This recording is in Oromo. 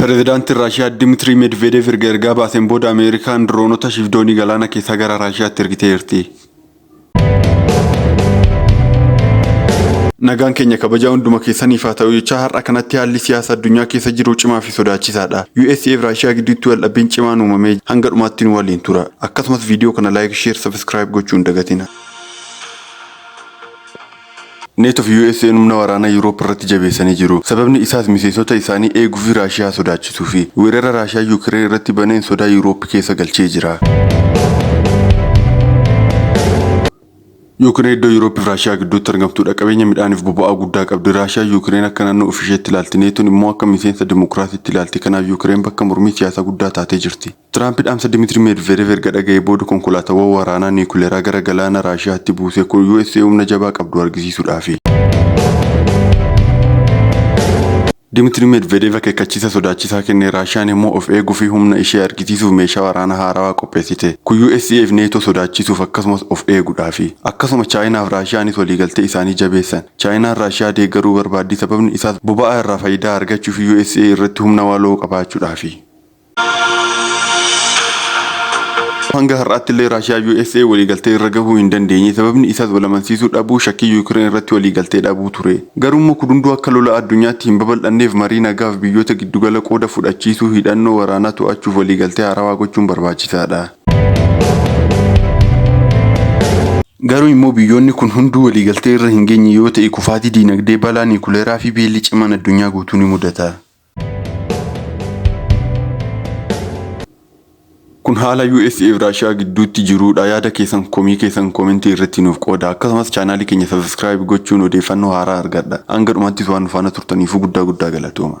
Pirezidaantiin Raashiyaa Dimitirii Medvedeev erga ergaa baaseen booda Ameerikaan diroonota shiif doonii galaana keessaa gara Raashiyaatti ergiteerti. Nagaan keenya kabajaa hunduma keessaniif haa ta'u jechaa har'a kanatti haalli siyaasa addunyaa keessa jiru cimaa fi sodaachisaadha. USA fi Raashiyaa gidduutti waldhabbiin cimaan uumamee hanga dhumaatti nu waliin tura. Akkasumas viidiyoo kana like, share, subscribe gochuu hin dagatina. Neto fi USA'n humna waraanaa Yuuroop irratti jabeessanii jiru. Sababni isaas miseensota isaanii eeguu fi Raashiyaa sodaachisuufi. Weerara Raashiyaan Yuukireen irratti baneen sodaa Yuuroop keessa galchee jira. Yuukireen iddoo Yuuroop fi Raashiyaa gidduutti argamtuudha. Qabeenya midhaaniif boba'aa guddaa qabdi. Raashiyaan Yuukireen akka naannoo ofiisheetti ilaalti. Neton immoo akka miseensa dimokiraasiitti ilaalti. Kanaaf Yuukireen bakka mormii siyaasaa guddaa taatee jirti. Tiraampi dhaamsa Dimitri Medvedev erga dhaga'ee booda konkolaataawwan waraanaa niikuleeraa gara galaana Raashiyaatti buuse kun usa humna jabaa qabdu argisiisuudhaafi. Dimitri Medvedev akeekkachiisa sodaachisaa kenne, Raashiyaan immoo of eeguufi humna ishee argisiisuuf meeshaa waraanaa haarawaa qopheessite. Kun usa fi NATO sodaachisuuf akkasumas of eeguudhaafi. Akkasuma Chaayinaaf Raashiyaanis waliigaltee isaanii jabeessan. Chaayinaan Raashiyaa deeggaruu barbaaddi sababni isaas boba'aa irraa fayidaa argachuufi usa irratti humna waloo qabaachuudhaafi. Hanga har'aattillee Raashiyaa usa waliigaltee irra gahuu hin dandeenye sababni isaas wal amansiisuu dhabuu shakkii Yuukireen irratti waliigaltee dhabuu ture. Garuummoo kun hunduu akka lola addunyaatti hin babal'anneef marii nagaaf biyyoota giddugala qooda fudhachiisuu hidhannoo waraanaa to'achuuf waliigaltee haarawaa gochuun barbaachisaadha. Garuu immoo biyyoonni kun hunduu waliigaltee irra hin geenye yoo ta'e kufaatii diinagdee, balaa niikuleeraa fi beelli cimaan addunyaa guutuu ni mudata. Kun haala USA fi Raashiyaa gidduutti jiruudha. Yaada keessan komii keessan koomentii irratti nuuf qooda. Akkasumas chaanaalii keenya sabiskiraayib gochuun odeeffannoo haaraa argadha. Hanga dhumaattis waan nu faana turtaniifuu guddaa guddaa galatooma.